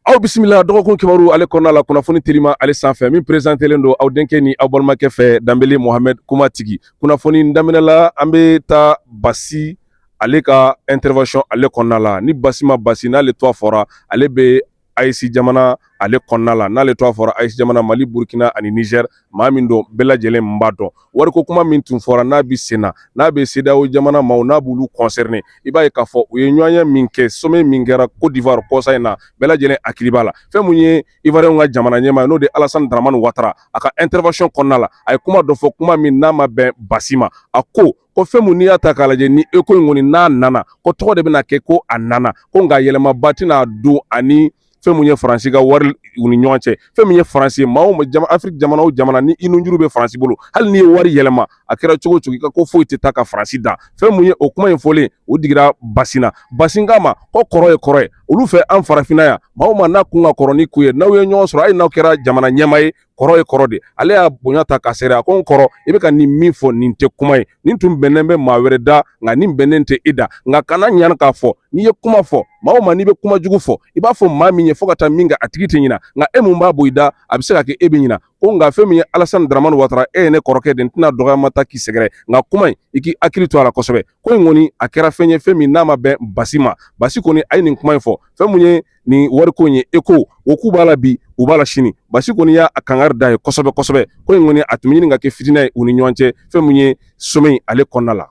aw bisimila dɔgɔkun kibaru ale kɔnɔna la kunnafoni telima ale sanfɛ min perezantelen don aw denkɛ ni aw balimakɛ fɛ danbele mohamɛd kuma tigi kunnafoni daminɛla an bɛ taa basi ale ka intervention ale kɔnɔna la ni basi ma basi n'ale tɔgɔ fɔra ale bɛ aes jamana ale kɔnɔna la n'ale tɔgɔ fɔra aes jamana mali burukina ani nizɛri maa min don bɛɛ lajɛlen b'a dɔn wariko kuma min tun fɔra n'a bɛ sen na n'a bɛ cedeao jamana maaw n'a b'olu concerné i b'a ye k'a fɔ u ye ɲɔgɔnye min kɛ sommet min kɛra côte d'ivoire kɔsa in na bɛɛ lajɛlen hakili b'a la fɛn min ye ivoirienw ka jamana ɲɛmaa ye n'o de alasani daramani watara a ka intervention kɔnɔna la a ye kuma dɔ fɔ kuma min n'a ma bɛn basi ma a ko ko fɛn mun n'i y'a ta k'a lajɛ ni eko in kɔni n'a nana ko tɔgɔ de bɛna kɛ ko a nana ko nka yɛlɛmaba tɛna don ani fɛn mun ye faransi ka wari u ni ɲɔgɔn cɛ fɛn min ye faransi maa o jama afiriki jamana o jamana ni i nunjuru bɛ faransi bolo hali n'i ye wari yɛlɛma a kɛra cogo o cogo i ka ko foyi tɛ taa ka faransi dan fɛn mun ye o kuma in fɔlen o digira basi na basi k'a ma ko kɔrɔ ye kɔrɔ ye olu fɛ an farafinna yan maa o maa n'a kun ka kɔrɔ n'i kun ye n'aw ye ɲɔgɔn sɔrɔ hali n'aw kɛra jamana ɲɛmaa ye kɔrɔ ye kɔrɔ de ale y'a bonya ta k'a sɛgɛrɛ a ko n kɔrɔ i bɛ ka nin min fɔ nin tɛ kuma ye nin tun bɛnnen bɛ maa wɛrɛ da nka nin bɛnnen tɛ e da nka kana ɲina k'a fɔ n'i ye kuma fɔ maa o maa n'i bɛ kuma jugu fɔ i b'a fɔ maa min ye fo ka taa min kɛ a tigi tɛ ɲina nka e min b'a bɔ i da a bɛ se ka kɛ e bɛ ɲina ko nka fɛn min ye alasani daramani watara e ye ne kɔrɔkɛ de n tɛna dɔgɔyama ta k'i sɛgɛrɛ nka kuma in i k'i hakili to a la kosɛbɛ ko in kɔni a kɛra fɛn ye fɛn min n'a ma bɛn basi ma basi kɔni a ye nin kuma in fɔ fɛn mun ye ni wariko in ye eko o k'u b'a la bi u b'a la sini basi kɔni y'a kangari da ye kosɛbɛ kosɛbɛ ko in kɔni a tun bɛ ɲini ka kɛ fitinɛ ye u ni ɲɔgɔn cɛ fɛn min ye sommet in ale kɔnɔna la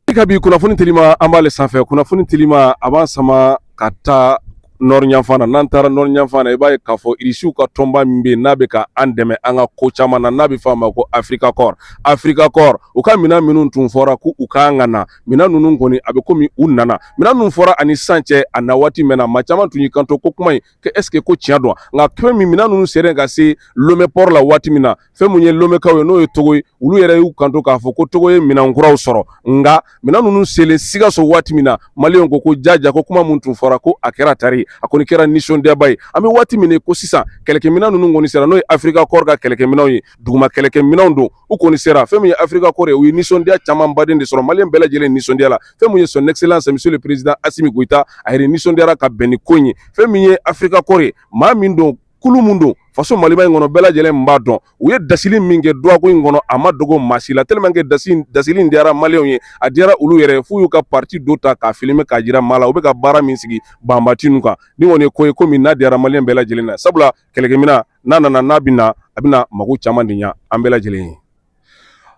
i ka bi kunnafoni telima an b'ale sanfɛ kunnafoni telima a b'an sama ka taa nɔri yanfan na n'an taara nɔri yanfan na i b'a ye k'a fɔ irisiw ka tɔnba min bɛ yen n'a bɛ ka an dɛmɛ an ka ko caman na n'a bɛ fɔ a ma ko afirika kɔr afirika kɔr u ka minɛn minnu tun fɔra ko u kan ka na minɛn ninnu kɔni a bɛ komi u nana minɛn ninnu fɔra ani sisan cɛ a na waati mɛnna maa caman tun y'i kanto ko kuma in ko est-ce que ko tiɲɛ don nka fɛn min minɛn ninnu sera ka se lome port la waati min na fɛn minnu ye lomekaw ye n'o ye togo ye olu yɛrɛ y'u kanto k'a fɔ ko togo ye minɛn kuraw sɔrɔ nka minɛn ninnu selen sikaso waati min na maliyɛnw ko jaja ko kuma min tun fɔra ko a kɛra tari a kɔni kɛra nisɔndiyaba ye an bɛ waati min ko sisan kɛlɛkɛminɛn ninnu kɔni sera n'o ye afirika kɔr ka kɛlɛkɛminɛnw ye duguma kɛlɛkɛminɛnw don u kɔni sera fɛn min ye afirika kɔr ye u ye nisɔndiya caman baden de sɔrɔ maliyɛn bɛɛ lajɛlen nisɔndiya la fɛn min ye son excellence monsieur le président asimi goyita a yɛrɛ nisɔndiyara ka bɛn ni ko in ye fɛn min ye afirika kɔr ye maa min don kulu min don faso maliba in kɔnɔ bɛɛ lajɛlen b'a dɔn u ye dasili min kɛ dɔgɔkun in kɔnɔ a ma dogo maa si la tellement que dasili in diyara maliyɛnw ye a diyara olu yɛrɛ f'u y'u ka partie dɔ ta k'a filmer k'a jira maa la u bɛ ka baara min sigi banbati ninnu kan nin kɔni ye ko ye ko min n'a diyara maliyɛn bɛɛ lajɛlen na sabula kɛlɛkɛmina n'a nana n'a bɛ na a bɛna mako caman de ɲa an bɛɛ lajɛlen ye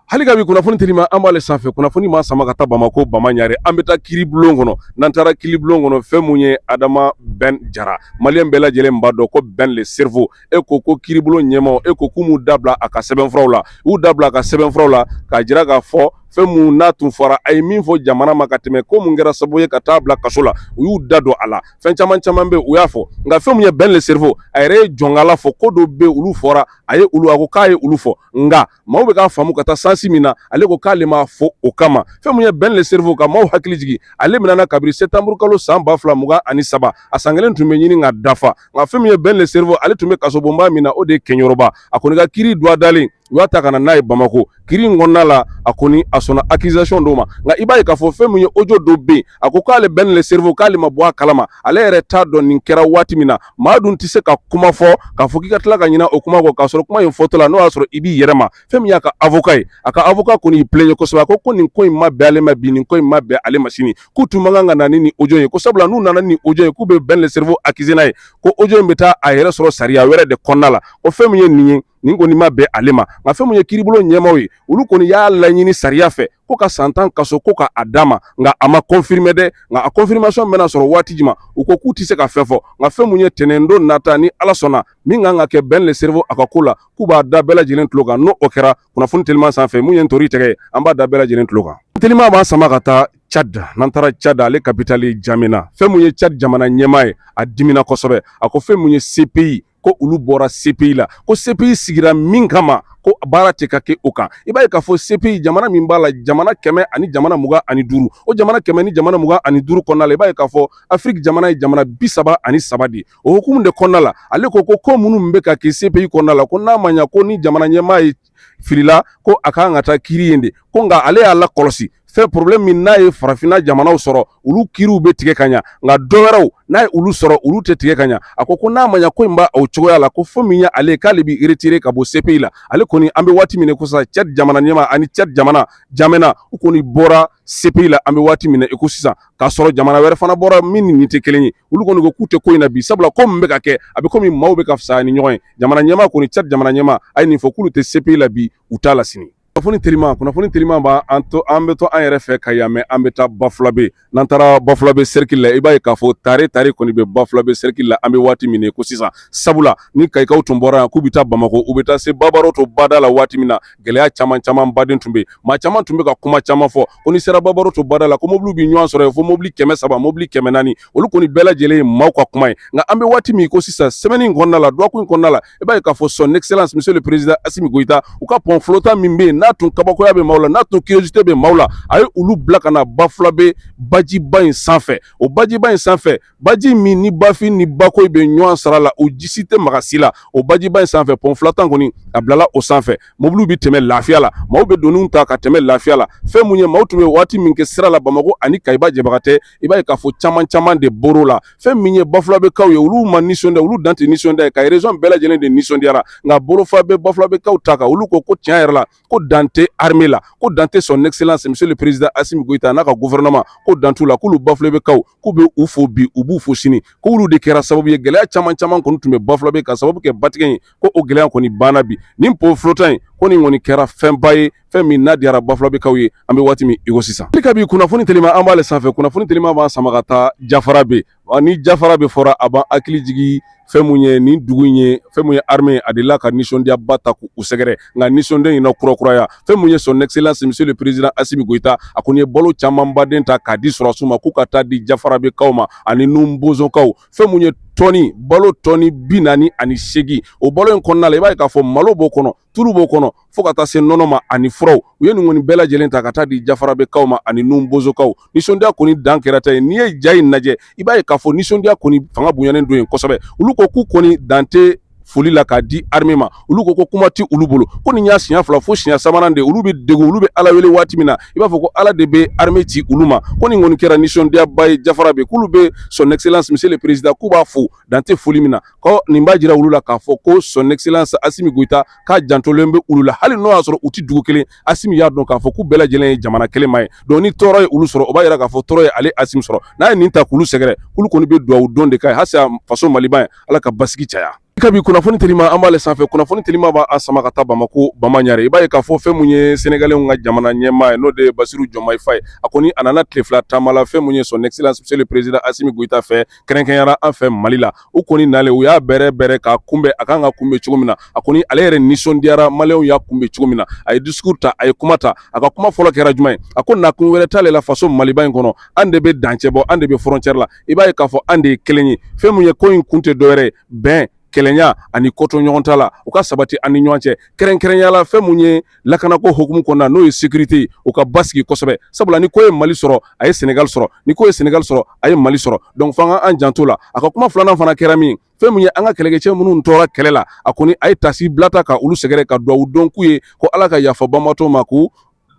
hali ka bi kunnafoni teliman an b'ale sanfɛ kunnafoni b'an sama ka taa bamakɔ bama ɲare an bɛ taa kiri bulon kɔnɔ n'an taara kiri bulon kɔnɔ fɛn mun ye adama Ben jara mali bɛɛ lajɛlen b'a dɔn ko Ben le cerveau e ko ko kiri bulon ɲɛmaaw e ko k'u m'u dabila a ka sɛbɛnfuraw la u dabila a ka sɛbɛnfuraw la k'a jira k'a fɔ fɛn mun n'a tun fɔra a ye min fɔ jamana ma ka tɛmɛ ko mun kɛra sababu ye ka taa bila kaso la u y'u da don a la fɛn caman caman bɛ u y'a fɔ nka fɛn min ye Ben le cerveau a yɛrɛ ye jɔnkala fɔ ko dɔ bɛ olu fɔra a ye olu a ko k'a ye olu fɔ nka maaw bɛ k'a faamu ka taa sansi min na ale ko k'ale ma fɔ o kama fɛn min ye Ben le cerveau ka maaw hakili jigin ale minɛna kabiri sɛtanburu kalo san ba fila mugan ani saba a san kelen tun bɛ ɲini ka dafa nka fɛn min ye Ben le cerveau ale tun bɛ kasobonba min na o de ye Keɲeroba a kɔni ka kiri don dalen u y'a ta ka na n'a ye bamakɔ kiri in kɔnɔna la a kɔni a sɔnna accusation dɔw ma nka i b'a ye k'a fɔ fɛn min ye audio dɔ bɛ yen a ko k'ale Ben le cerveau k'ale ma bɔ a kalama ale yɛrɛ t'a dɔn nin kɛra waati min na maa dun tɛ se ka kuma fɔ k'a fɔ k'i ka tila ka ɲinɛ o kuma kɔ k'a sɔrɔ kuma in fɔtɔ la n'o y'a sɔrɔ i b'i yɛrɛ ma fɛn min y'a ka avocat ye a ka avocat kɔni y'i plaignent kosɛbɛ a ko ko nin ko in ma bɛn ale ma bi nin ko in ma bɛn ale ma sini k'u tun man kan ka na ni nin audio ye ko sabula n'u nana ni audio ye k'u bɛ Ben le cerveau accuser n'a ye ko audio in bɛ taa a yɛrɛ sɔrɔ sariya wɛrɛ de kɔnɔna la ko fɛn min ye nin ye nin kɔni ma bɛn ale ma nka fɛn min ye kiri bulon ɲɛmaaw ye olu kɔni y'a laɲini sariya fɛ ko ka san tan kaso ko ka a d'a ma nka a ma confirmer dɛ nka a confirmation bɛna sɔrɔ waati jumɛn u ko k'u tɛ se ka fɛn fɔ nka fɛn min ye tɛnɛndon nata ni ala sɔnna min kan ka kɛ Ben le cerveau a ka ko la k'u b'a da bɛɛ lajɛlen tulo kan n'o kɛra kunnafoni teliman sanfɛ mun ye ntori tɛgɛ ye an b'a da bɛɛ lajɛlen tulo kan teliman b'an sama ka taa Tchad n'an taara Tchad ale kapitali Jamena fɛn mun ye Tchad jamana ɲɛmaa ye a dimina kosɛbɛ a ko fɛn mun ye CPI ko olu bɔra CPI la ko CPI sigira min kama ko baara tɛ ka kɛ o kan i b'a ye k'a fɔ CPI jamana min b'a la jamana kɛmɛ ani jamana mugan ani duuru o jamana kɛmɛ ni jamana mugan ani duuru kɔnɔna la i b'a ye k'a fɔ Afiriki jamana ye jamana bi saba ani saba de o hukumu de kɔnɔna la ale ko ko ko minnu bɛ ka kɛ CPI kɔnɔna la ko n'a ma ɲa ko ni jamana ɲɛmaa ye filila ko a kan ka taa kiri yen de ko nka ale y'a lakɔlɔsi fɛn problème min n'a ye farafinna jamanaw sɔrɔ olu kiriw bɛ tigɛ ka ɲa nka dɔ wɛrɛw n'a ye olu sɔrɔ olu tɛ tigɛ ka ɲa a ko ko n'a ma ɲa ko in b'a o cogoya la ko fo min ye ale k'ale b'i retirer ka bɔ CPI la ale kɔni an bɛ waati min na i ko sisan Tchad jamana ɲɛmaa ani Tchad jamana Jamena u kɔni bɔra CPI la an bɛ waati min na i ko sisan k'a sɔrɔ jamana wɛrɛ fana bɔra min ni nin tɛ kelen ye olu kɔni ko k'u tɛ ko in na bi sabula ko min bɛ ka kɛ a bɛ komi maaw bɛ ka fisaya ni ɲɔgɔn ye jamana ɲɛmaa kɔni Tchad jamana ɲɛmaa a ye nin fɔ k'olu tɛ CPI la bi u t'a la sini kunnafoni teliman kunnafoni teliman b'a an to an bɛ to an yɛrɛ fɛ Kayi yan mɛ an bɛ taa bafulabe n'an taara bafulabe cercle la i b'a ye k'a fɔ tare tare kɔni bɛ bafulabe cercle la an bɛ waati min na i ko sisan sabula ni kayikaw tun bɔra yan k'u bɛ taa bamako u bɛ taa se Babaroto bada la waati min na gɛlɛya caman camanba de tun bɛ maa caman tun bɛ ka kuma caman fɔ ko ni sera babaroto bada la ko mobiliw bɛ ɲɔgɔn sɔrɔ yen fo mobili kɛmɛ saba mobili kɛmɛ naani olu kɔni bɛɛ lajɛlen ye maaw ka kuma ye nka an bɛ waati min i ko sisan semaine in kɔnɔna la dɔgɔkun in kɔnɔna la i b'a ye k'a fɔ son excellence monsieur le président Assimi Goïta u ka pont flottant min bɛ yen n'a tun kabakoya bɛ maaw la n'a tun curiosité bɛ maaw la a ye olu bila ka na bafulabe bajiba in sanfɛ o bajiba in sanfɛ baji min ni bafin ni bakoyi bɛ ɲɔgɔn sara la o ji si tɛ maga si la o bajiba in sanfɛ pont flottant kɔni a bilala o sanfɛ mobiliw bɛ tɛmɛ lafiya la maaw bɛ doni ta ka tɛmɛ lafiya la fɛn mun ye maaw tun bɛ waati min kɛ sira la bamakɔ ani kayiba jabagatɛ i b'a ye k'a fɔ caman caman de bɔr'o la fɛn min ye bafulabekaw ye olu ma nisɔndiya olu dan tɛ nisɔndiya ye kayi région bɛɛ lajɛlen de nisɔndiyara nka bolofa bɛ bafulabekaw ta kan olu ko ko tiɲɛ yɛrɛ la ko dan tɛ armée la ko dan tɛ son excellence monsieur le président asimi goyita n'a ka gouvernement ko dan t'u la k'olu bafulabekaw k'u bɛ u fo bi u b'u fo sini k'olu de kɛra sababu ye gɛlɛya caman caman kɔni tun bɛ bafulabe k'a sababu kɛ batigɛ ye ko o gɛlɛya kɔni banna bi ni pont flottant in ko nin kɔni kɛra fɛnba ye fɛn min n'a diyara bafulabekaw ye an bɛ waati min iko sisan kabi kunnafoni telima an b'ale sanfɛ kunnafoni telima b'an sama ka taa jafarabe Ɔ ni jafarabe fɔra a b'an hakili jigin fɛn mun ye nin dugu in ye fɛn mun ye armée a delila ka nisɔndiyaba ta k'u sɛgɛrɛ nka nisɔndiya in na kurakuraya fɛn mun ye son excellence monsieur le président asimi goyita a kɔni ye balo camanba de ta k'a di sɔrɔsiw ma k'u ka taa di jafarabekaw ma ani nun bozokaw fɛn mun ye tɔni balo tɔni bi naani ani seegin o balo in kɔnɔna la i b'a ye k'a fɔ malo b'o kɔnɔ tulu b'o kɔnɔ fo ka taa se nɔnɔ ma ani furaw u ye nin kɔni bɛɛ lajɛlen ta ka taa di jafarabekaw ma ani nun bozokaw nisɔndiya kɔni dan kɛra ta ye n'i ye ja in lajɛ i b'a ye k'a fɔ nisɔndiya kɔni fanga bonyanen don yen kosɛbɛ olu ko k'u kɔni dan tɛ foli la k'a di armée ma olu ko ko kuma tɛ olu bolo ko nin y'a siɲɛ fila fo siɲɛ sabanan de olu bɛ degun olu bɛ ala wele waati min na i b'a fɔ ko ala de bɛ armée ci olu ma ko nin kɔni kɛra nisɔndiyaba ye jafarabe k'olu bɛ son excellence monsieur le président k'u b'a fo dan tɛ foli min na ɔ nin b'a jira olu la k'a fɔ ko son excellence Asimi Goyita k'a jantolen bɛ olu la hali n'o y'a sɔrɔ u tɛ dugu kelen Asimi y'a dɔn k'a fɔ k'u bɛɛ lajɛlen ye jamana kelen maa ye donc ni tɔɔrɔ ye olu sɔrɔ o b'a jira k'a fɔ tɔɔrɔ ye ale Asimi sɔrɔ n'a ye nin ta k'olu sɛgɛrɛ k'olu kɔni bɛ dugawu don de k'a ye halisa faso Maliba in Ala ka basigi caya kabi kunnafoni telima an b'ale sanfɛ kunnafoni telima b'an sama ka taa bamako bamaɲare i b'a ye k'a fɔ fɛn mun ye senegalɛnw ka jamana ɲɛmaa ye n'o de ye basiru jɔmayi fayi a kɔni a nana tile fila taama la fɛn mun ye son excellence monsieur le président asimi goyita fɛ kɛrɛnkɛrɛnyara an fɛ mali la u kɔni nalen u y'a bɛrɛ bɛrɛ k'a kunbɛn a kan ka kunbɛn cogo min na a kɔni ale yɛrɛ nisɔndiyara maliyɛnw y'a kunbɛn cogo min na a ye discours ta a ye kuma ta a ka kuma fɔlɔ kɛra jumɛn ye a ko nakun wɛrɛ t'ale la faso maliba in kɔnɔ an de bɛ dancɛ bɔ an de bɛ frontière la i b'a ye k'a fɔ an de ye kelen ye fɛn mun ye ko in kun tɛ dɔwɛrɛ ye bɛn kelenya ani kotoɲɔgɔntala u ka sabati an ni ɲɔgɔn cɛ kɛrɛnkɛrɛnyala fɛn mun ye lakanako hukumu kɔnɔna n'o ye sécurité u ka basigi kosɛbɛ sabula ni ko ye mali sɔrɔ a ye sɛnɛgali sɔrɔ ni ko ye sɛnɛgali sɔrɔ a ye mali sɔrɔ donc f'an ka an janto la a ka kuma filanan fana kɛra min fɛn mun ye an ka kɛlɛkɛcɛ minnu tora kɛlɛ la a kɔni a ye taasibila ta ka olu sɛgɛrɛ ka dugawu don k'u ye ko ala ka yafa banbaatɔw ma ko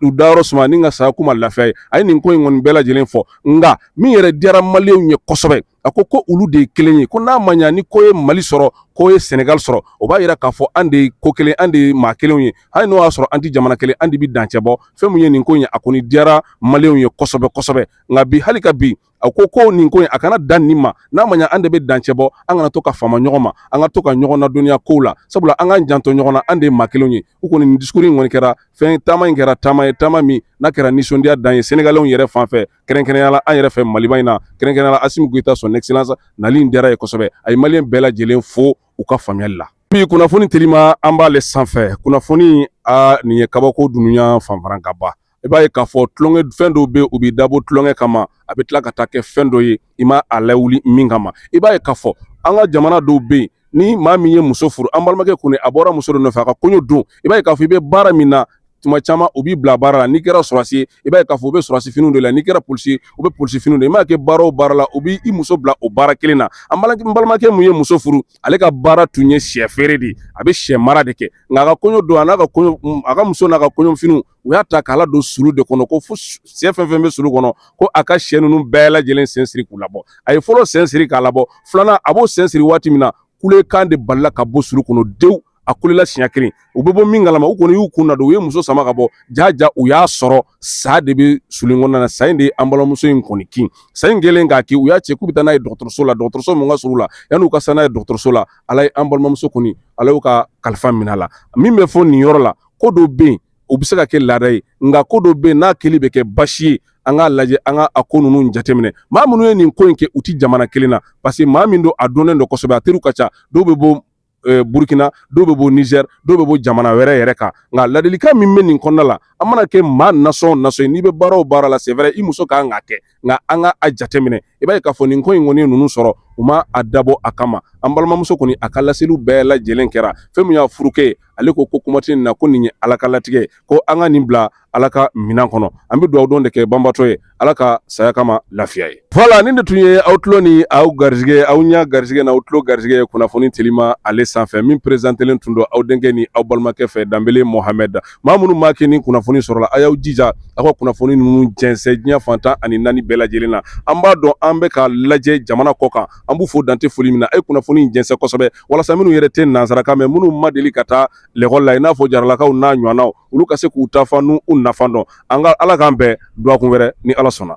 u dayɔrɔ suma ni ka saya k'u ma lafiya ye a ye nin ko in kɔni bɛɛ lajɛlen fɔ nka min yɛrɛ diyara maliyɛnw ye kosɛbɛ a ko ko olu de ye kelen ye ko n'a ma ɲa ni ko ye mali sɔrɔ ko ye sɛnɛgali sɔrɔ o b'a yira k'a fɔ an de ye ko kelen an de ye maa kelenw ye hali n'o y'a sɔrɔ an tɛ jamana kelen an de bɛ dancɛ bɔ fɛn min ye nin ko in ye a kɔni diyara maliyɛnw ye kosɛbɛ kosɛbɛ nka bi hali ka bi a ko ko nin ko in a kana dan nin ma n'a ma ɲa an de bɛ dancɛ bɔ an kana to ka fama ɲɔgɔn ma an ka to ka ɲɔgɔn nadɔnniya kow la sabula an k'an janto ɲɔgɔn na an de ye maa kelenw ye u kɔni nin diskuri in kɔni kɛra fɛn taama in kɛra taama ye taama min n'a kɛra nisɔndiya dan ye sɛnɛgalɛw yɛrɛ fan fɛ kɛrɛnkɛrɛnya la an yɛrɛ fɛ maliba in na kɛrɛnkɛrɛnya la asimi goyita son excellence nali in diyara ye kosɛbɛ a ye maliyɛn bɛɛ lajɛlen fo u ka faamuyali la bi kunnafoni telima an b'ale sanfɛ kunnafoni a nin ye kabako dunuya fanfara ka ban i b'a ye k'a fɔ tulonkɛ fɛn dɔw bɛ u bɛ dabɔ tulonkɛ kama a bɛ tila ka taa kɛ fɛn dɔ ye i ma a lawuli min kama i b'a ye k'a fɔ an ka jamana dɔw bɛ yen ni maa min ye muso furu an balimakɛ kɔni a bɔra muso dɔ nɔfɛ a ka kɔɲɔ don i b'a ye k'a fɔ i bɛ baara min na tuma caman u b'i bila baara la n'i kɛra sɔrɔsi ye i b'a ye k'a fɔ u bɛ sɔrɔsi finiw de la n'i kɛra polisi ye u bɛ polisi finiw de i m'a kɛ baara o baara la u b'i i muso bila o baara kelen na an balimakɛ min ye muso furu ale ka baara tun ye sɛ feere de ye a bɛ sɛ mara de kɛ nka a ka kɔɲɔ don a n'a ka kɔɲɔ a ka muso n'a ka kɔɲɔfiniw u y'a ta k'a ladon sulu de kɔnɔ ko fo sɛ fɛn fɛn bɛ sulu kɔnɔ ko a ka sɛ ninnu bɛɛ lajɛlen sen siri k'u labɔ a ye fɔlɔ sen siri k'a labɔ filanan a b'o sen siri waati min na kulekan de balala ka bɔ sulu kɔnɔ dewu a kulela siɲɛ kelen u bɛ bɔ min kalama u kɔni y'u kun nadon u ye muso sama ka bɔ jaja u y'a sɔrɔ sa de bɛ sulu kɔnɔna na sa in de ye an balimamuso in kɔni kin sa in kɛlen k'a kin u y'a cɛ k'u bɛ taa n'a ye dɔgɔtɔrɔso la dɔgɔtɔrɔso min ka surun la yan'u ka se n'a ye dɔgɔtɔrɔso la ala ye an balimamuso kɔni ala y'u ka kalifa minɛ a la min bɛ fɔ nin yɔrɔ la ko dɔ bɛ yen o bɛ se ka kɛ laada ye nka ko dɔ bɛ yen n'a kɛli bɛ kɛ basi ye an k'a lajɛ an ka a ko ninnu jateminɛ maa minnu ye nin ko in kɛ u tɛ jamana kelen na parce que maa min don a dɔnnen don kosɛbɛ a teriw ka ca dɔw bɛ bɔ Eh, burukina dɔw bɛ bɔ nizɛri dɔw bɛ bɔ jamana wɛrɛ yɛrɛ kan nka ladilikan min bɛ nin kɔnɔna la an mana kɛ maa nasɔn nasɔn ye n'i bɛ baara o baara la c'est vrai i muso ka kan k'a kɛ nka an ka a jateminɛ i b'a ye k'a fɔ nin ko in kɔni ye ninnu sɔrɔ u ma a dabɔ a kama an balimamuso kɔni a ka laseliw bɛɛ lajɛlen kɛra fɛn min y'a furukɛ ale ko ko kuma tɛ nin na ko nin ye ala ka latigɛ ye ko an ka nin bila ala ka minɛn kɔnɔ an bɛ dugawu don de kɛ banbaatɔ ye ala ka saya k'a ma lafiya ye voilà nin de tun ye aw tulo ni aw garisɛgɛ aw ɲɛ garisɛgɛ n'aw tulo garisɛgɛ ye kunnafoni telima ale sanfɛ min perezantelen tun don aw denkɛ ni aw balimakɛ fɛ danbele muhamɛdi maa minnu maa kɛ ni kunnafoni sɔrɔla a y'aw jija aw ka kunnafoni ninnu jɛnsɛn diɲɛ fan tan ani naani bɛɛ lajɛlen na an b'a dɔn an bɛ ka lajɛ jamana kɔ kan an b'u fo dan tɛ foli min na a ye kunnafoni jɛnsɛn kosɛbɛ walasa minnu yɛrɛ tɛ nansarakan mɛn minnu ma deli ka taa lɛkɔli la i n'a fɔ jaralakaw n'a ɲɔgɔnnaw olu ka se k'u ta fan n'u nafa dɔn an ka ala k'an bɛn dɔgɔkun wɛrɛ ni ala sɔnna